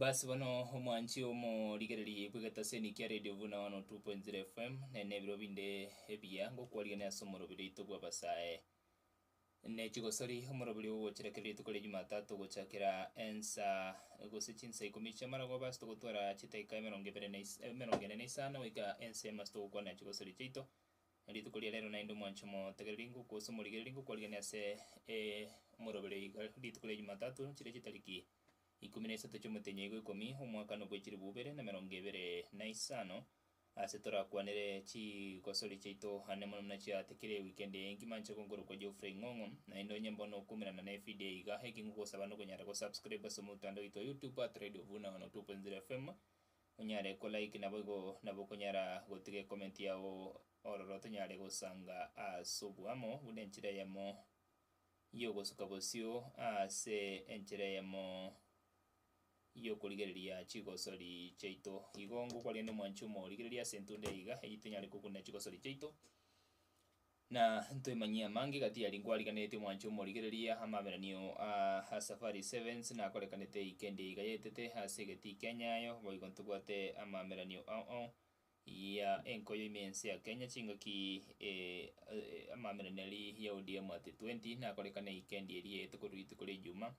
Basi bono omwanchi omorigereria igwe getaseni kia radio buna 102.0 fm nene ebiro binde ebiya ngokwarigia ase omorobio rito bwa basae ne chigosori omorobori ogochirekerera rituko ria Jumatatu ogochakera ensa gose chinsa ikomi chia maragoba ase togotwara chitaika emerongo ebere na is emerongo ene na isano goika ensemo ase togokwana chigosori chiaito. Rituko ria rero naende omwanchi omotegereri ngoku gose omorigereri ngokwarigereria ase e omorobori oiga rituko ria Jumatatu chire chitariki ikomi na isato chi'omotenyi oigo ikomi omwaka nokwe chilifu ibere na emerongo ebere na isano Aase torakwanere chigosori chiaito ande mono buna chiatikire ewikendi eye engima nche konkorokwa Geoffrey Ng'ong'o. Naende onye mbono okuumerana nevidio eye iga, eki ngogosaba nokonyara gosubscriba ase omotandao oito wa YouTube at Radio Vuna one o two point zero FM, onyare kolike naboigo nabo okonyara gotiga ecomment yao ororo tonyare gosanga ase oboamo buna enchera eyemo yogosuka bosio ase enchera eyemo y'okorigereria chigosori chiaito. Igo ngokwarire nomwanchi omorigereria ase entunda eye iga, eyio tenyare kokunera chigosori chiaito, na ntoimanyie amange iga tiyari nkwarigereretie omwanchi omorigereria amabereranio a a Safari Sevens nakorekanete weekend eye iga yaetete ase egetii kia Nyayo, boigo ntobwate amameranio ao ao ya enkoyo ime ense ya Kenya chingaki eh amameranio aria ya ODM at 20 nakorekana weekend eria yaete korwa rituko ria Ejuma.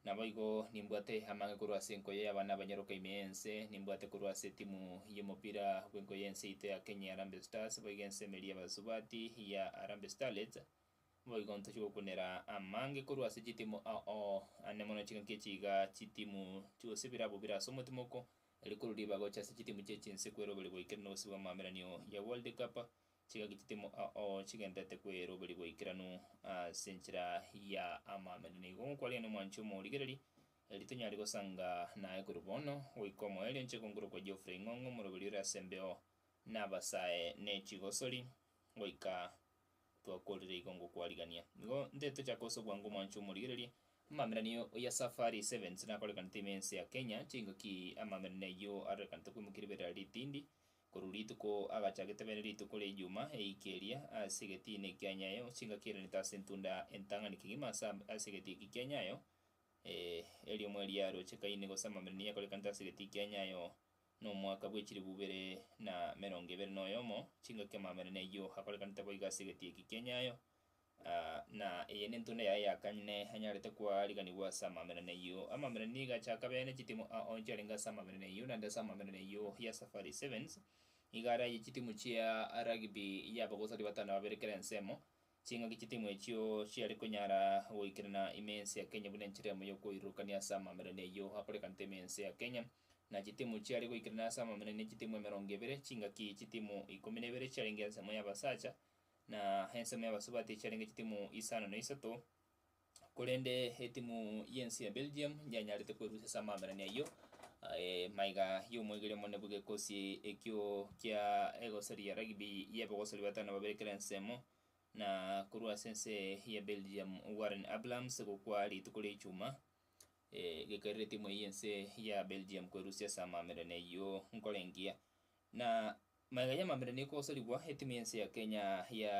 Naboigo nimbwate amaang'e korwa ase enkoyo y'abana abanyaroka ime y'ense, nimbwate korwa ase etimu y'omopira bw'enkoyo y'ense yaito ya Kenya ya Harambee Stars, boigo ense emeeri y'abasubati ya Harambee Starlets. Boigo ntochia gokunera amaange korwa ase chitimu ao ane mono chingaki echi iga chitimu chionsi birabo bire ase omotimoko, rikorwa ribagocha ase chitimu chie chinse kweroberia goikera nobosio bw'amabereranio ya World Cup Chiga gititimo ao chigenderete kweroberia boikeranu ase enchera ya amaamera. Nigo gokwarire nomwanchi omorigereria, Eri tonyare gosanga naye korwa bono goika omoerio, inche kongorokwa Geoffrey Ing'ong'o, omoroberi ore ase embeo nabasae ne chigosori, goika twakorire igo ngokwarigania. Nigo nte tochake ase obwango omwanchi omorigereria. Amaamera nigo ya Safari Sevens nakorekanete ime ense ya Kenya. Chingo ki amaamera neyio arorekanete koimokia ribera ritindi, Korwa rituko agacha getebere rituko ria ejuma eike eria ase egetiina ekia nyayo chingaki erenete ase entunda entang'ani kegima ase ase egeti eki kia nyayo, eh, eriomo eria rochekaine gose amamera nigo akorekanete ase egeti kia nyayo nomwaka bwe chilifu ibere na merongo ebere noyomo, chingaki amamera neyio akorekanete boigo ase egeti eki kia nyayo, Na eye nentunda yaye ya kane ne enyarete kwariganigwa ase amamereno ayio. Amamereno nigo achaka bene chitimu a oncho arenge ase amamereno ayio, naende ase amamereno ayio ya Safari Sevens nigo araye chitimu chia rugby ya abagosori batano babere kera ensemo. Ching'aki chitimu echio chiare konyara goikerana ime ense ya Kenya buna enchera emo y'okoirurukania ase amamereno ayio akorekanete ime ense ya Kenya, na chitimu chiare goikerana ase amamereno ne chitimu emerongo ebere, ching'aki chitimu ikomi na ibere chiarenge ensemo y'abasacha na ensemo y'abasubati echiarenge chitimu isano na isato, korende etimu y'ense ya Belgium yanyarete kwerusia ase amaaberania ayio aye maiga y'omoigereria omonene bw'egekosi ekio kia egosori ya rugby y'abagosori batano babere kera ensemo, na korwa ase ense ya Belgium Warren Abrahams gokwa rituko ria Ijumaa, eh, gekerire etimu eyio y'ense ya Belgium kwerusia ase amaaberania ayio nkore engiya. Na maiga y'amambera nigo kogosarigwa etimu y'ense ya Kenya ya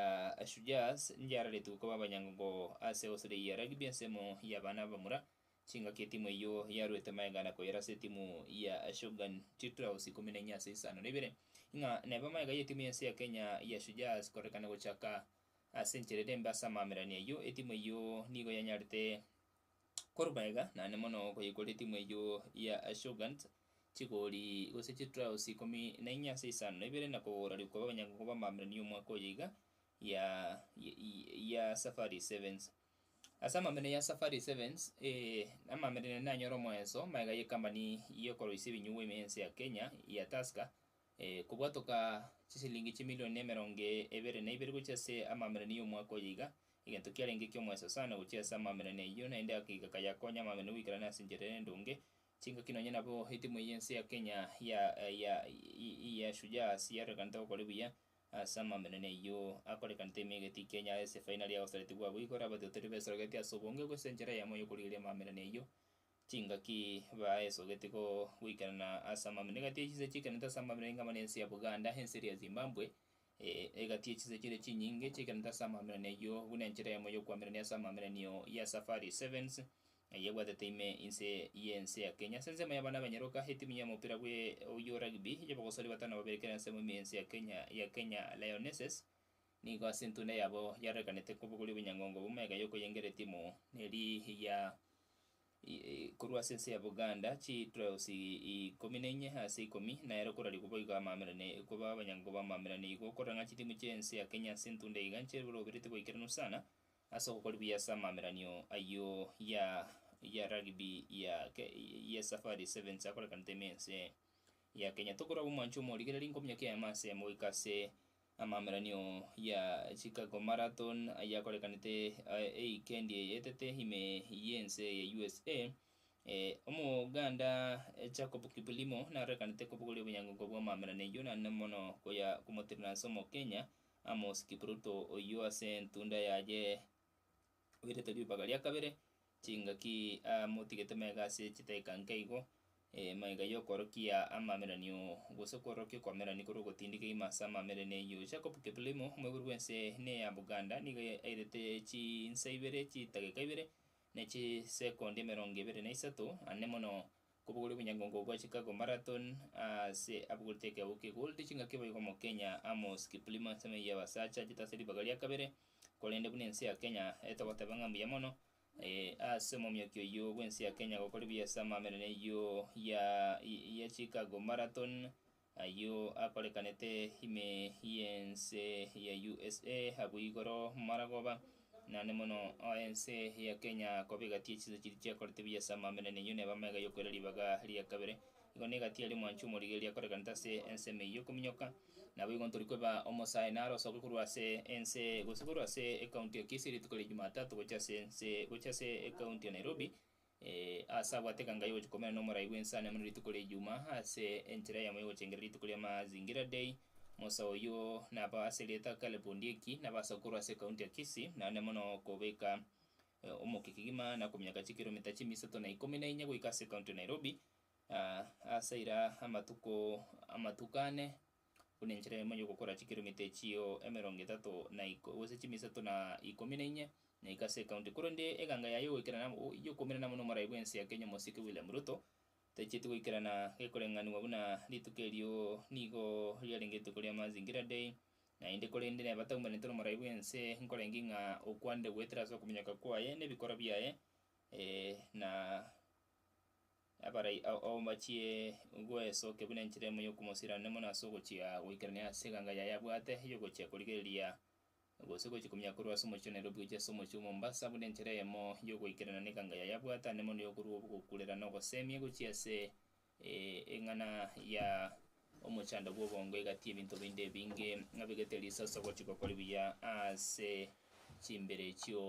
Shujaas njiararetwe koba abanyangongo ase Australia ya Rugby ensemo y'abana abamura. Chingaki etimu eyio yaruete maiga na koyera ase etimu ya Shogun Chitraos ikomi na inye ase isano na ibere. Ing'a neba maiga y'etimu y'ense ya Kenya ya Shujaas korekana gochaka ase enchera ere mbe ase amaamerani ayio, etimu eyio nigo yanyarete Korwa magega nane mono okoyekora etimu eyio ya Shoguns chigori gose chitrouse ikomi na inya ase isano na ibere na kogora rikoba abanyagongo b'amamilioni y'omwaka oyo iga ya ya Safari Sevens. Ase amamilioni ya Safari Sevens amamilioni nanyore omoenso magega y'ekambani y'okoroisia ebinyugwa ime y'ense ya Kenya ya Tusker Ee, kobwatoka chisilingi chimilioni emerongo ebere na ibere gochia ase amaamerioni y'omwaka oyo iga, egento kiarenge eki'omoeso sana gochia ase amaamerioni ayio, naende agakeiga kayakonya amaamerioni goikerana ase enchera ere endonge. Chingaki nonya nabo etimu eye y'ense ya Kenya ya ya ya Shujaa ase yarorekanete gokore buya ase amaamerioni ayio akorekanete ime egati Kenya ase efainari yagosaretigwa abwo igo orabate otoribesorogetie ase obonge gose enchera yamo y'okorigereria amaamerioni ayio Chingaki baesogeti goikerana ase amabera egati echinse chiikerente ase amabera ing'ama ne ense ya Buganda, ense eria ya Zimbambwe, egati echinse chiria chinyinge chiikerente ase amabera neyio buna enchera yamo y'okwamerania ase amabera niyo ya Safari Sevens eyebwatete ime inse y'ense ya Kenya. Ase ensemo y'abana b'Enyaroka, etimu y'omopira bwe oyio rugby y'abagosori batano baberekerane ensemo ime y'ense ya Kenya ya Kenya Lionesses, Nigo ase entunda yabo yarorekanete kobogoria obonyang'ongo bw'omega y'okoyengera etimu neri ya korwa ase ense ya Buganda, chi trouse ikomi na inye ase ikomi, nero korarigwa boigo amamera ne koba abanyang'ongo b'amamera ne igo okorora ng'a chitimu chie ense ya Kenya ase entunda iga nchiroberetie goikeranu sana ase ogokori buya ase amameranio ayio ya ya rugby ya ya Safari Sevens akorekanete ime ense ya Kenya. Tokorwa abwo mwancho omorigereria nkominyokia eamase emo goika ase Amaamerainio ya Chicago Marathon ayio akorekanete eikendi eye etete ime y'ense ya USA. Omoganda Jacob Kiplimo narorekanete kobogoria obonyangongo bw'amaamerano eyio naende mono koya komotirirana ase Omokenya Amos Kipruto oyio ase entunda yaye oirete ribaga ria kabere, chingaki amotigete maiga ase chidakika nke igo, maiga yokoorokia amameranio gose koorokia okoamerani korwa ogotindika kegima ase amamereni ayio. Jacob Kiplimo, omoibori bw'ense ene ya Buganda, nigo airete chinsa ibere, chidakika ibere, ne chisekondi emerongo ebere na isato, ane mono Kobogorwa Obonyangongo bwa Chicago Marathon ase abogorete ekeogo kia Gold chingaki boigo Omokenya Amos Kiplimo ensemo ya abasacha achete ase ribaga ria kabere korende buna ense ya Kenya etogoteba ng'a mbuya mono ase omomioki oyio bw'ense ya Kenya gokora ebiasama amo ere neyio ya Chicago Marathon Ayio akorekanete ime y'ense ya usa abwo igoro maragoba naende mono o ense ya Kenya koba egati y'echinsa chiria chiakorete buya ase amaamera na eyio neba amega y'okoira ribaga ria kabere. Igo n'egati aria omwanchi omorigereria akorekanete ase ense ime eyio okominyoka. Naboigo ntori kweba omosae naro osoke korwa ase ense gose korwa ase ekaunti ya Kisii rituko ria Jumatatu gocha ase ense gocha ase ekaunti ya Nairobi Ee, aase abwate ekanga yogochia komera n'omorai bw'ensani buna rituko ri'Ejumaa, ase enchera yamo yogochengerera rituko ria Mazingira Day. Musa oyio naba ase erieta Caleb Ondieki, naba ase okorwa ase ekaunti ya Kisii, naende mono kobeka omokia kegima na kominyaka chikiromita chimia isato na ikomi na inye goika ase ekaunti ya Nairobi, aa, ase aira amatuko amatuko ane buna enchera eyemo y'ogokora chikiromita echio emerongo etato na iko, gose chimia isato na ikomi na inye, na iko ase ekaunti. Korende eganga yaye y'ogoikerana amo, y'okoimerana amo n'omorai bw'ense ya Kenya Omosike William Ruto, tachieti goikerana gekoreng'anigwa buna rituko erio nigo riarenge rituko ria Mazingira Day, naende korende neba taumerente n'omorai bw'ense nkorenge ng'a okwande goetera ase okominyoka kwaye, n'ebikora biaye, na. Abarai ao ao mbachie goesokia buna enchera emo y'okomosirana mono ase ogochia goikerania ase eganga yaye abwate y'ogochia korigereria gose gochia komia korwa ase omochie o Nairobi gochia ase omochie o Mombasa buna enchera emo y'ogoikerana n'eganga yaye abwate ande mono y'okorua obogokurera na ogosemia gochia ase eng'ana ya Omochando bw'obongo egati y'ebinto binde ebinge, abegete risoso gochia gokori buya ase chimbere echio,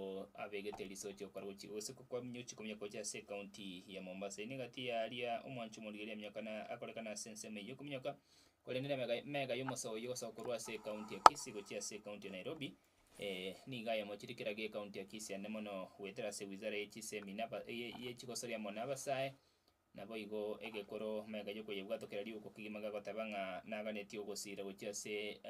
abegete risoso ochia gokora gochi gose gokoa minyochi komonya gocha ase ecounty ya Mombasa. Eye negati yaria omwancho omorigeri aminyoka na akorekana ase ensemo eyio kominyoka korende ne mega mega y'omosa oyio gosoka korwa ase ecounty ya Kisii gochia ase ecounty ya Nairobi. Eh nigo ayamochire kera ge ecounty ya Kisii ande mono goetera ase wizara ye chisemina aba ye ye chigosoria amo na abasae Naboigo egekoro mega y'okoyebwatokera riuko kegima gagoteba ng'a naganetie ogosiira gochia ase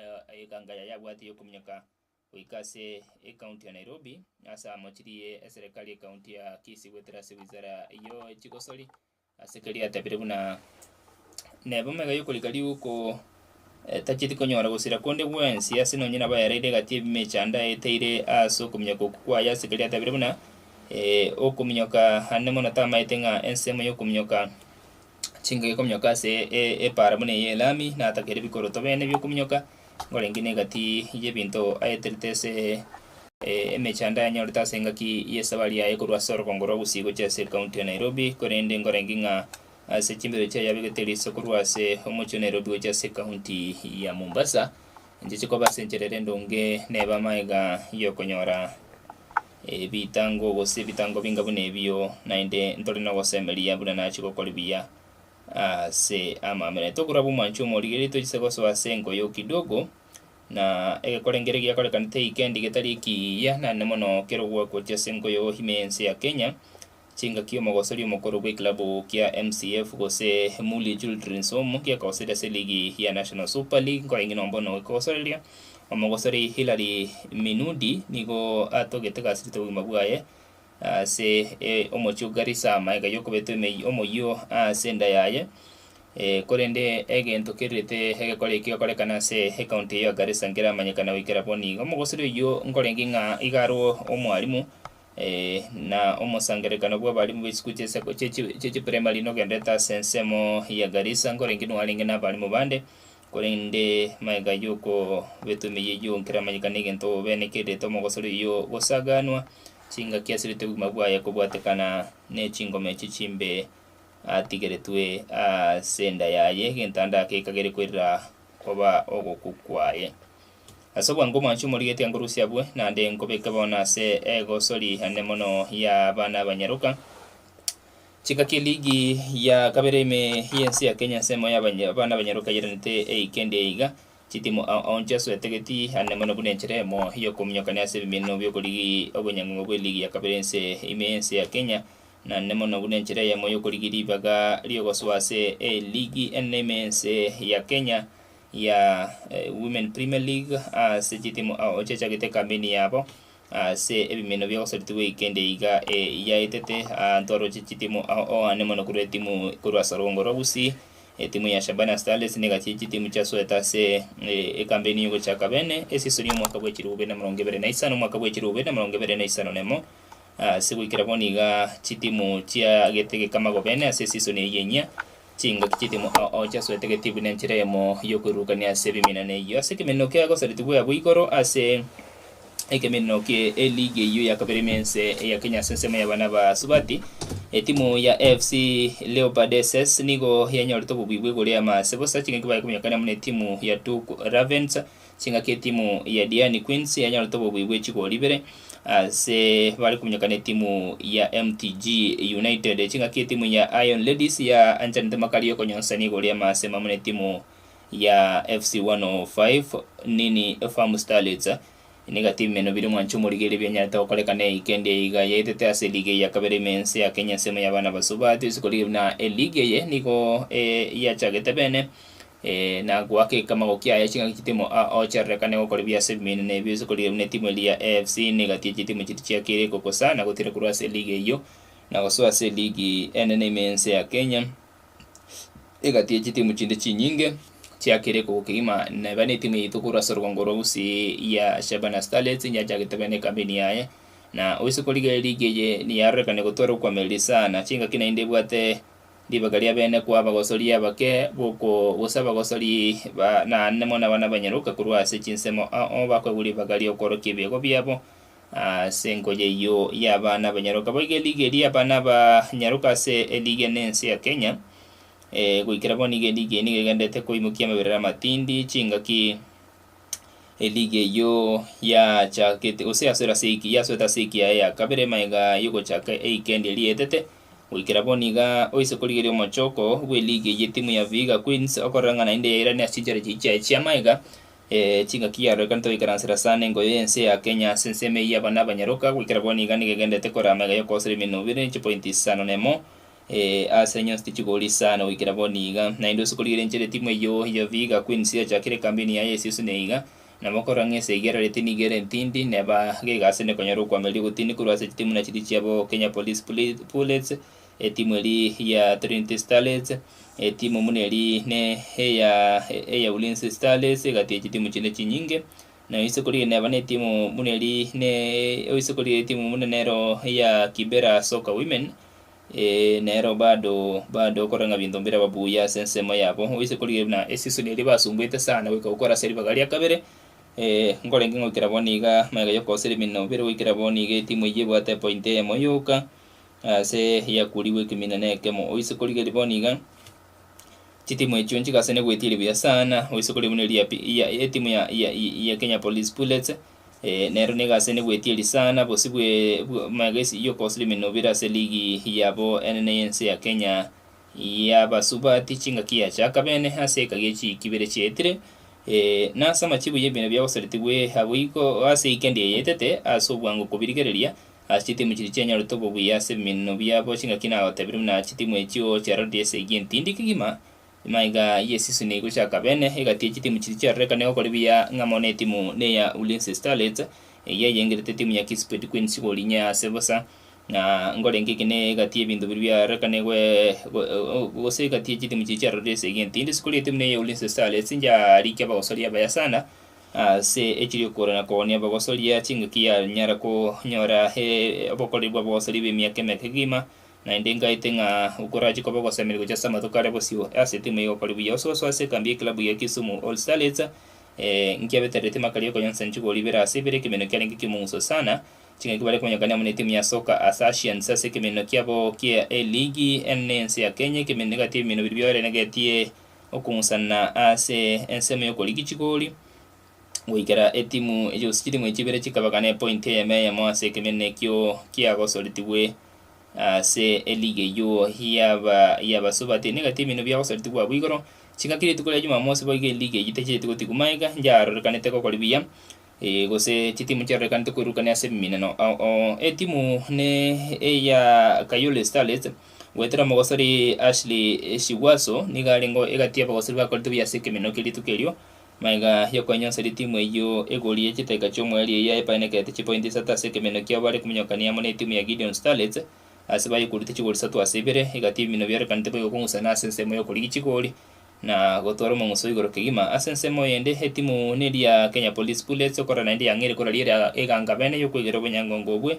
eganga yaye abwate y'okominyoka goika ase ecounty ya Nairobi ase amochirie eserekari y'ecounty ya Kisii goetera ase wizara yo chigosori ase keria atebire buna nebo mega y'okorika riuko etacheti konyora gosira konde gwensi ase nonye nabo yareire egati ebimo echanda eteire aase okominyoka okwo kwaye ase keri atabire buna okominyoka ande mono tamaete ng'a ensemo yokominyoka chingaki ekominyoka ase epaara buna eye elami natakere bikoroto bene biokominyoka ngorenge negati yebinto aeterete ase emechando ayanyorete ase engaki yesabari yaye korwa ase orogongo rwa gusii gochia ase ekaunti ya Nairobi korende ngorenge ng'a ase chimbero chiaye abegete riso korwa ase omochie o Nairobi gochia ase ekaunti ya Mombasa, inche chikoba ase enchera ere endonge nebe amaega yokonyora ebitango gose ebitango binga buna ebio naende ntore nogosemeria buna nachia gokori buya ase amaamera. Tokorwa abwo mwancho omo rigereria tochise gosoa ase enkoyo kidogo na egekorenge ere giakorekanete eikendi getari ekiiya naende mono kero ogwakwa gochia ase enkoyo ime ense ya Kenya, Chingaki omogosori omokoro bw'ekilabu kia MCF gose Mulie Children's Home gekogoseria ase ligi ya National Super League nkoreng'ina ombono gekogosoreria, omogosori Hillary Minudi nigo atogete gasirite obogima bwaye ase omochie o Garissa ama ega y'okobetwa emeyio omoyio ase enda yaye. Korende egento kerirete egekore ekio gekorekana ase ekaunti eyio ya Garissa nkeramanyekana goikera bono iga. Omogosori oyio nkoreng'ing'a iga arwo omwarimu Ee, na omosangererekano bw'abarimu b'echikuru chia seko- chia chi- chia chiprimary nogenderete ase ensemo ya Garissa nkorenge nwarenge nabarimu bande, korende magega y'okobetwa emeyio eyio nkeramanyeka negento obobeneke, eritwa mogosori oyio gosaganwa, chingaki asirete obogima bwaye kobwatekana nechingoma echi chimbe atigeretwe ase enda yaye, egento ande ake ekagere koirera koba ogokwa kwaye. Ase obwango omwanchi omorigeti ankorusia abwe, naende nkobeke bono ase egosori ane mono y'abana abanyaroka. Chika ki ligi ya kabere ime y'ense ya Kenya ensemo y'abanya- abana abanyaroka yaeranete eike endi eiga, chitimu ao aoncho ase oetageti ane mono buna enchera emo y'okominyokania ase ebimenwa bi'okorigi obonyang'uma bwe ligi ya kabere ense ime y'ense ya Kenya, na ane mono buna enchera eyemo y'okorigi ribaga ri'ogosoa ase eligi ene ime y'ense ya Kenya. ya Women Premier League ase chitimu ao chiachagete ekambeni yabo ase ebimino bia gosaritwa gwe kende iga yaetete aanto aroche chitimu ao oane mono korwa etimu korwa ase rwongo rwa Gusii etimu ya Shabana Starlets negachie chitimu chia Soeta ase ekambeni yogochaka bene esisoni omwaka bwa echirogo bibere na emerongo ebere na isano omwaka bwa echirogo bibere na emerongo ebere na isano na emo ase goikera bono iga chitimu chiagete egekamago bene ase esisoni eyio enyia Chingaki chi'etemu ao chiasoete gati buna enchera eyemo y'okoirurukania ase ebimina na eyio ase ekemeneno kia gosaretigwa abwo igoro ase ekemeneno kie eligi eyio ya kabere me ense eya Kenya ase ensemo y'abana ba Subati. Etimu ya AFC Leopardeses nigo yanyorete obobuya bw'igoro y'amase bosa chingaki baye kominyoka amo na etimu ya Tuku Ravens. Chingaki etimu ya Diani Queens yanyorete obobui bwe chigori ibere ase bare kominyokana ne etimu ya MTG United. Chingaki etimu ya Iron Ladies ya anchanete makali yokonyonsania igoro ya Maasem amo ne timu ya FC 105 Nini Farm Starlets. Niga timu eno biri mwanche omorigereria bianyarete gokoreka ne weekend eye iga yaetete ase ligi eye ya kabere ime ense ya Kenya ensemo ya abana basubati. Ase korigia buna eligi eye nigo yachagete bene. Ee, na goakeka amagoki aya chingaki chitemo a ochererekane gokora ebiaso ebimenene ebio ase korigereria buna etimu eria ya AFC negati ye chitimu chiria chiakeire gokosa na gotira korwa ase eligi eyio na gosoa ase eligi enene ime y'ense ya Kenya egati ye chitimu chinde chinyinge chiakeire kogoka kegima neba netimu yaito korwa ase orogongo rwa Gusii ya Shabana Starlets eria yachagete bene ekambeni yaye na oise korigereria eligi eye niyarorekane gotwara okoamereria sana chingaki naende ebwate Ribaga ria bene kwa abagosori abake boko gose abagosori ba naanemo na bana banyaroka korwa ase chinsemo ao bakoegwa ribaga ri'okorokia ebiago biabo ase engoye eyio ya abana abanyaroka. Boigo eligi eria ya abana abanyaroka ase eligi ene ense ya Kenya goikera bono nigo eligi eye nigo egenderete koimokia amaberero amatindi, chingaki, Eliga eyio yachakete gose yasoera ase ewiki yasoete ase ewiki yaye ya kabere magega y'ogochaka eikendi eria eetete. Goikera bono iga oise korigeria omochoko bw'eliga eyio etimu ya Vihiga Queens okorora ng'a naende yairane ase chinchera chiaye chiaye chia magega chingaki yarorekanete goikaransera sana engoye y'ense ya Kenya ase ensemo eyio y'abana abanyaroka. Goikera bono iga nigo egendererete koraa magega y'okogoserwa emenwa ebere chipointi isano na emo. Ee, aase nyonsi tichigori sana goikera bono iga, naende ase korigereria enchera etimu eyio ya Vihiga Queens yachakire ekambeni yaye esese neiga, na bakorora ng'a esa egerarete nigo ere entindi, neba gegaasi ende konyora okoamereria ogotini korwa ase chitimu na chiria chiabo Kenya Police Puli- Pullets, etimu eri ya Trinity Starlets, etimu buna eri ne eya eya Ulinzi Starlets egati ye chitimu chinde chinyinge, na oise korigereria neba ne etimu buna eri ne oise korigereria etimu buna nero eya Kibera Soccer Women, Ee, nero bado bado okora ng'a binto mbiraba buya ase ensemo yabo. Oise korigia buna eseason eria basumbuete sana goika gokora ase ribaga ria kabere, eh, nkorenge ngoikera bono iga magega y'okogoseria emenwa bire goikera bono iga etimu eyio ebwate epoint eyemo yoka ase yakurigwe ekemina na ekemo. Oise korigeria bono iga chitimu echio nchigasane goetiria buya sana, oise korigia buna eria ya pi ya etimu ya ya ya Kenya Police Bullets. Ee, nero nigo ase negwetie eri sana bosio bwe magesi Jock Oslim nobire ase ligi yabo enene y'ense ya Kenya y'abasubati chingaki yachaka bene ase eka gie chiiki bire chiaetire, ee, na ase amachibu y'ebinto biagosaretigwe agwo iko ase eikendi eye etete ase obwango kobirigereria ase chitimu chiria chianyorete obobuya ase ebiminino biabo chingaki nagotebire buna chitimu echio Cherardi SIG Ntindi kegima Emaiga ye season egochaka bene egati echitimu chiria chiarorekane gokora ebiya ng'a mono etimu neya Ulinzi Starlets eyio eyengerete etimu ya Kisipet Queens gori inye ase bosa na nkorenge eke ne egati yebinto biria biarorekane gose egati yechitimu chiria chiarorire esegi entindi sikori etimu neya Ulinzi Starlets inchiarikia abagosoria abaya sana ase echiria okogora na kogonia abagosoria chingaki yanyara konyora obokoreri bwa abagosoria bemiaka emeke kegima Naende ngaete ng'a okorache koba ogosemeria gochia ase amatuko aria bosio ase timu eye igokori buya ososo ase ekambi y'ekilabu ya Kisumu All Starlets eh, nkiabeterereti makari okonyonsesa nchigori ibere ase ibere ekemeneno kiarenge ki'omong'uso sana chingaki bare komonyakania amo netimu ya Soka Assaciants ase ekemeneno kiabo kia eligi enene y'ense ya Kenya ekemeneno egati ebimeneno biria bioerenegetie okong'usana ase ensemo y'okorigia chigori goikera etimu echi gose chitimu echi chibere chikabakana epointi eyemo eyemo ase ekemeneno ekio kiagosoretigwe ase eligi eyio yaba yabasubati. Nigo etimu ino biagosoretigwe abwo igoro, chingaki rituko ria Jumamosi boigo eligi eyio tacheti gotigwa magega, yarorekanete gokora buya gose chitimu chiarorekanete koirukania ase ebiminano. Etimu ne eya Kayole Starlets, goetera omogosori Ashley Sigwaso nigo arenge egati y'abagosori bakorete buya ase ekemeneno kia rituko erio, Maiga aria kwanyonsire timu eyio egori ya chitaiga chi'omoerio eyio yaepainekete chipointi isato ase ekemenyo kiabo bare kominyokania amo netimu ya Gideon Starlets ase baye korutwa chigori isato ase ibere, egatibi bino biorekanete boigo kong'usana ase ensemo y'okorigia chigori na gotwara omong'uso igoro kegima. Ase ensemo eyende, etimu neria Kenya Police Bullets, okora naende yang'eire korari ere eganga bene y'okwegera obonyangongo obwe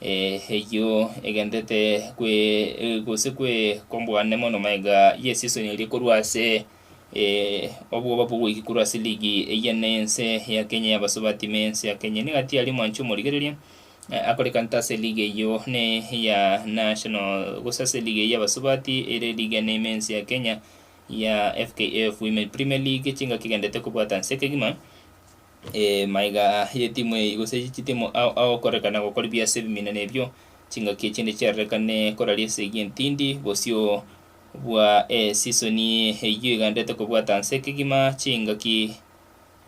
Eyio egenderete kwe gose kwe kombwane mono maega ye season eria korwa ase obwoba bwogoiki korwa ase ligi eye ne ense ya Kenya ya Basubati me ense ya Kenya. Nigo atiari omwanchi omorigereria akorekanta ase ligi eyio ne ya National gose ase ligi eyio ya Basubati ere ligi ene ime ense ya Kenya ya FKF Women Premier League chingaki egenderete kobwata nse kegima. Ee, maiga y'etimu eye, gose chitimu ao agokoreka na gokora ebiaso ebimino nebio, chingaki echinde chiarorekane koraria esegi entindi bosio bwa esisoni eyio egandete kobwata nse kegima chingaki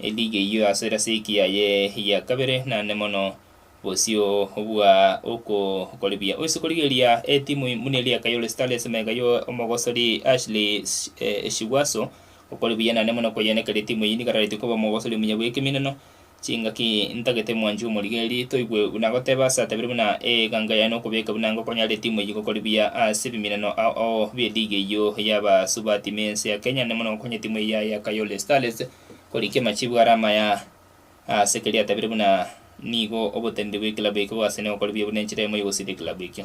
eligi eyio ase erasiki yaye ya kabere naende mono bosio bwa okokoribia. Oise korigereria etimu buna eria Kayole Starlets maiga y'omogosori Ashley Shiguaso Okore buya nane mono koyenekeri timu eye nigarareti koba omogosori omuya bw'ekeminano chingaki ntagete mwanchi omorigeri toigwe buna agoteba ase atabire buna ee eganga yaye nokobeka buna ngokonyare timu eye gokori buya ase ebiminano ao ao bie ligi eyio yabasubati mense ya Kenya nane mono gokonya timu eye yaye ya Kayole Starlets koriki amachibu are amaya Ase keria atabire buna nigo oboteneneri bw'ekilabu ekio bwasene gokora ebiabu nenchera emo y'ogosiria ekilabu ekio.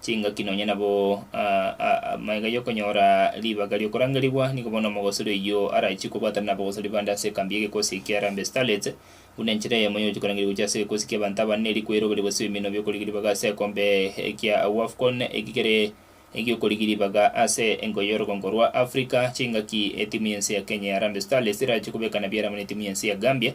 chingaki nonya nabo amaiga y'okonyora ribaga ri'okorangerigwa. Nigo bono omogosori oyio arachie kobwatana n'abagosori bande ase ekambi y'egekosi kia Harambee Starlets, buna enchera eyemo y'ogochia korangeria gochia ase egekosi ki'abanto abanene erio kweroberie gose ebiminwa bi'okorigia ribaga ase ekombe kia Wafcon eki kere egi'okorigia ribaga ase engo y'orogongo rwa Africa. Chingaki etimu y'ense ya Kenya ya Harambee Starlets erachie kobekana biaramo n'etimu y'ense ya Gambia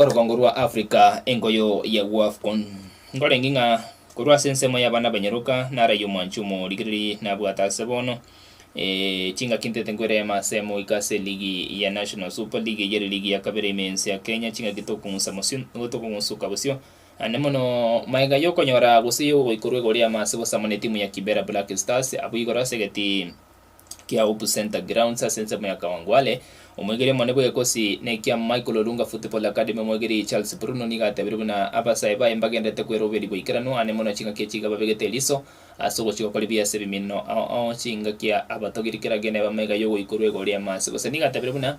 Orogongo rwa Africa enkoyo ya Wafcon. Nkorenge ng'a korwa ase ensemo y'abana abanyaroka nara y'omwanchi omorigereri nabwate ase bono, chingaki ntete nkoirema ase moika ase eligi ya National Super League eyio ere eligi ya kabere ime ense ya Kenya, chingaki tokong'usa bosio tokong'usuka bosio naende mono magega y'okonyora gose y'ogoikorwa igoro y'amaase gosamana etimu ya Kibera Black Stars abwo igoro ase egetii. kia Hope Centre Grounds ase ensemo ya Kawangware. Omwegeri omonene bw'egekosi nekiamo Michael Olunga Football Academy omwegeri Charles Bruno nigo atebire buna abasae baye mbagenderete kweroberia boikeranu ane mono chingaki echi iga babegete eriso ase ogochia gokora ebiya ase ebimino ao ao chingaki abatogiri kera gene ebamo iga yogoikorwa egori amo ase gose nigo atebire buna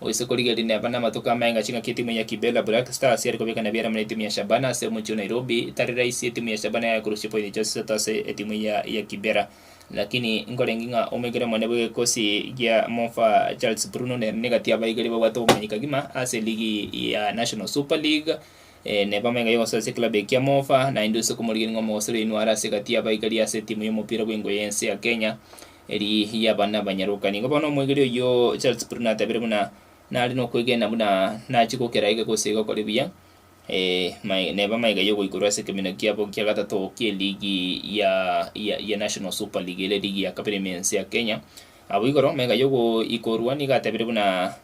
Gose korigia rineba na amatuko amenge chingaki etimu ya Kibera Black Stars yare kobekana ebiara amo na etimu ya Shabana ase omochie o Nairobi, tari raisi etimu ya Shabana yaye korosia pointi chionsi isato ase etimu eye ya Kibera. Lakini nkorenge ng'a omoigera omone bw'egekosi gia Mofa Charles Bruno nere negati y'abaigeri babwate obomanyiri kegima ase ligi ya National Super League, neba amenge y'ogosoa ase ekilabu eye kia Mofa, naende ase komorigereria ng'a omogosori oino are ase egati y'abaigeri ase etimu y'omopira bw'engo y'ense ya Kenya. Eri y'abana abanyaroka. Nigo bono omoegeria oyio Charles Spurgeon atebeire buna nare nokwegena buna nachie gokera ege gose iga okore buya, ee, neba amaiga y'ogoikorwa ase ekeminyo kiabo kia gatato ki'eligi ya ya National Super League, ere eligi ya kabere ime ense ya Kenya. Abwo igoro, maiga y'ogoikorwa nigo atebeire buna.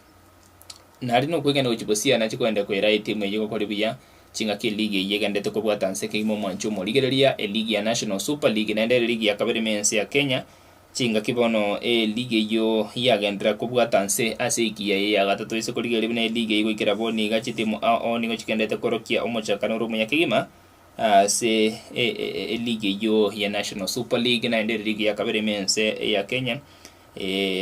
Nari nokwegena gochia bosio nache koenda koira etimu eye gokore buya chingaki eligi eye egenderete kobwata nse kegima omwancho omo. Rigereria eligi ya National Super League naende ere ligi ya kabere ime ense ya Kenya, chingaki bono eligi eyio yagenderera kobwata nse ase ekiya eye ya gatato ase korigereria buna eligi eyio goikera abwo niga chitimu ao nigo chigenderete korokia omochakano ore omuya kegima ase eligi eyio ya National Super League naende ere ligi ya kabere ime ense ya Kenya.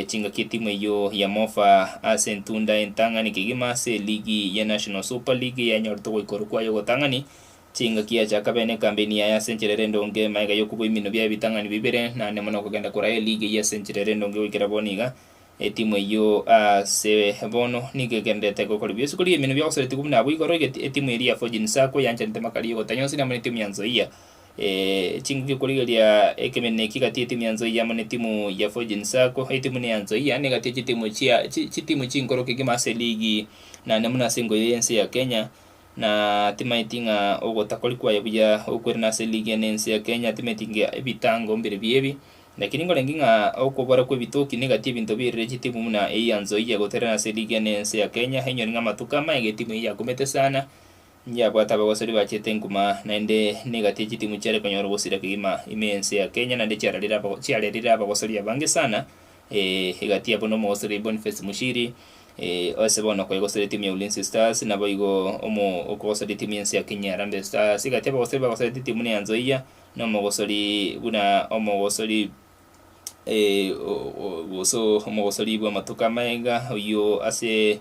Chingaki etimu eyio ya Mofa ase entunda entang'ani kegima ase eligi ya National Super League yanyorete ogoikorwa kwayo ogotang'ani. Chingaki yachaka bene ekambeni yaye ase enchera ere endonge, magega y'okobua emino bia ebitang'ani bibere naende mono kogenda koraya eligi eyio ase enchera ere endonge goikera bono iga. Etimu eyio ase bono nigo egendererete gokora bionsi korigia emino bia gosaretigwa buna abwo igoro. Etimu eria ya Forging Sacco yanchanete Makariu Gotanyosi amo ne etimu ya Nzoia Ching'aki okorigereria ekemeneno eki gati y'etimu ya Nzoia amo n'etimu ya Forging Sacco. Etimu ne ya Nzoia nigo egati y'echitimu chia chitimu chinkoro kegima ase eligi na naende buna ase engo eye y'ense ya Kenya, na timaeti ng'a ogotakori kwaye buya okwirana ase eligi eye n'ense ya Kenya timaeti nge ebitango mbire bi ebi. Lakini nkorangi ng'a okobora kw'ebitoki nigo gati ebinto birire chitimu buna eyio ya Nzoia goterana ase eligi eye n'ense ya Kenya, enyore ng'a amatuko amaya iga etimu eyio yakumete sana Ngiabwate abagosori bachete enguma, naende negatie chitimu chiare konyora ogosira kegima ime ense ya Kenya, naende chiararire aba chiarerire abagosori abange sana, eeh egatia buna omogosori Boniface Mushiri, eeh ase bono okoegoseria etimu ya Ulinzi Stars, naboigo omo okogoseria etimu y'ense ya Kenya Harambee Stars, egatia abagosori bagosete etimu buna Nyanzoia, na omogosori buna omogosori eeh o o gose omogosori bw'amatuko amaega oyio ase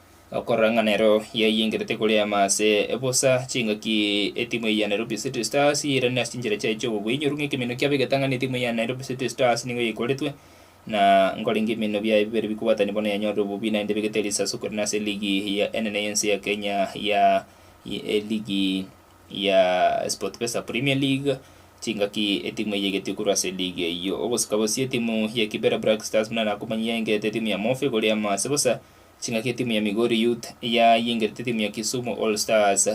Okorora ng'a nero yaiyengerete koreama ase bosa chingaki etimu eye ya Nairobi City Stars yairane ase chinchera chiaye chi'obobui, inyoru ng'a ekeminto kiabo egetang'ani etimu eye ya Nairobi City Stars nigo yaikoretwe, na nkorenge ebiminto biaye bibere bikobwatania bono yanyorire obobui naende ebegete risasi okorina ase eligi ya enene y'ense ya Kenya ya eligi ya Sportpesa Premier League, chingaki etimu eye egetio korwa ase eligi eyio. Ogosika bosio etimu ya Kibera Black Stars buna nakomanyia yayengerete etimu ya Mofe koreama ase bosa Chingaki timu ya Migori Youth ya yengerete timu ya Kisumu All Stars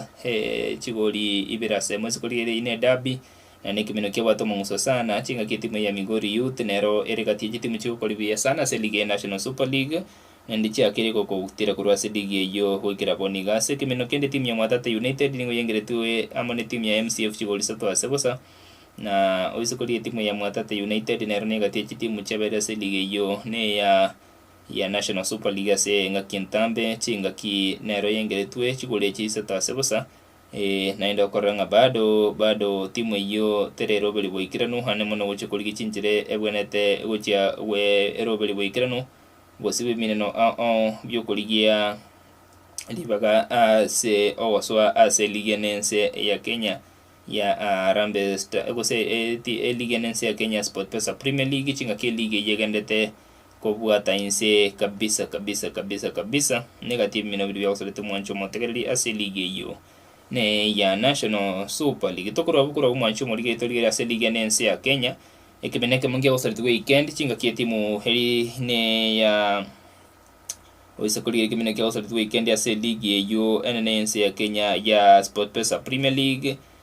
chigori ibere ase emo isiko riria ine derby na nekemeno kiabwate omong'uso sana ase engaki timu ya Migori Youth nero ere gati yechitimu chigokora buya sana ase ligi ya National Super League naende chiakere gokotira korwa ase ligi eyio goikera bono iga ase ekemeno kende timu ya Mwatate United nigo yengeretwe amo ne timu ya MCF chigori isato ase bosa na oisiko rietimu ya Mwatate United nero negati yechitimu chiabere ase ligi eyio neya ya National Super League ase engaki entambe, chingaki nero yaengeretwe chigoro echi isato ase bosa, ee, naende okorora ng'a bado bado timu eyio teri eroberi boikeranu aande mono gochia korigia chinchera ebwenerete gochia gwe eroberi boikeranu gose bw'emineno ao bi'okorigia ribaga ase ogosoa ase ligi ene ense ya Kenya ya Harambee Star- gose ligi ene ense ya Kenya Sportpesa Premier League chingaki ligi eyio egenderete Kobwata inse kabisa kabisa kabisa kabisa nigo ati ebimina biria biagosorete omwancho omotegereri ase eligi eyio ne eya National Super League. Tokorwa abwo korwa omwancho omorigereria torigereire ase eligi ene ense ya Kenya, ekebina ekemo nkiagosoretigwe weekend chingaki etimu eri ne eya oise korigereria ekebina ekiagosoretigwe weekend ase eligi eyio enene ense ya Kenya ya Sportpesa Premier League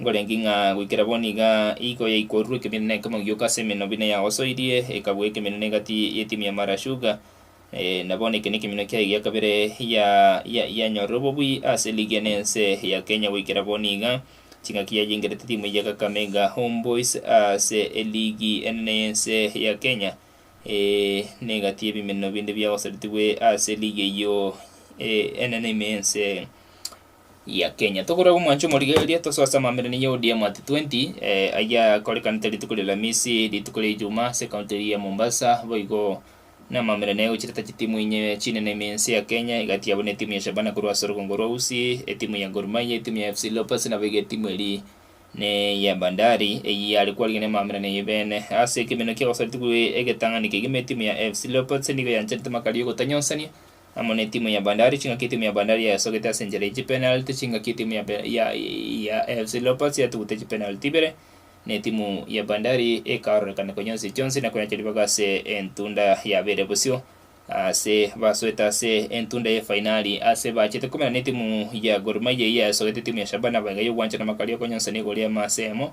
Nkorenge ng'a goikera bono iga iiko yaikorurwe ekeminto na ekemogioko ase emeno buna eyagosoirie, ekabua ekeminto na egati y'etimu ya Mara Sugar, na bono eke nekeminto kiaye gia kabere yanyorire obobui ase ligi ene ense ya Kenya goikera bono iga. Ching'aki yayengerete timu eye ya Kakamega Homeboyz ase eligi enene y'ense ya Kenya na egati y'ebimeneno binde biagosaretigwe ase ligi eyio enene ime y'ense. ya Kenya. Tokore gomwancha omorigereria tosoo ase amambera niye ODM at 20 eh, ayia korekanete rituko ria Lamisi, rituko ria Ijuma ase county eria ya Mombasa boigo na amambera naye gochireta chitimu inye chinene ime ense ya Kenya egati yabo ne etimu ya Shabana korwa ase orugongo rwa Usi, etimu ya Gor Mahia, etimu ya FC Leopards naboigo etimu eri ne ya Bandari eyio are kwarigia ne amambera naye bene. Ase ekemeno kia gosara rituko egetang'ani kegima etimu ya FC Leopards nigo yancharete makari yogotanyonsania amo ne timu ya Bandari, chingaki timu ya Bandari yayasogete ase enchera ye chipenalty, chingaki timu ya, ya, ya AFC Leopards yatugute chipenalty ibere, ne timu ya Bandari ekaororekana konya onsi chionsi na koyacha ribaga ase entunda yabeire bosio ase basoete ase entunda ye fainali ase bachete komena ne timu ya Gor Mahia eyio yayasogete timu ya Shabana aba iga yogwanchana makaria okonyonsana igori amo ase emo.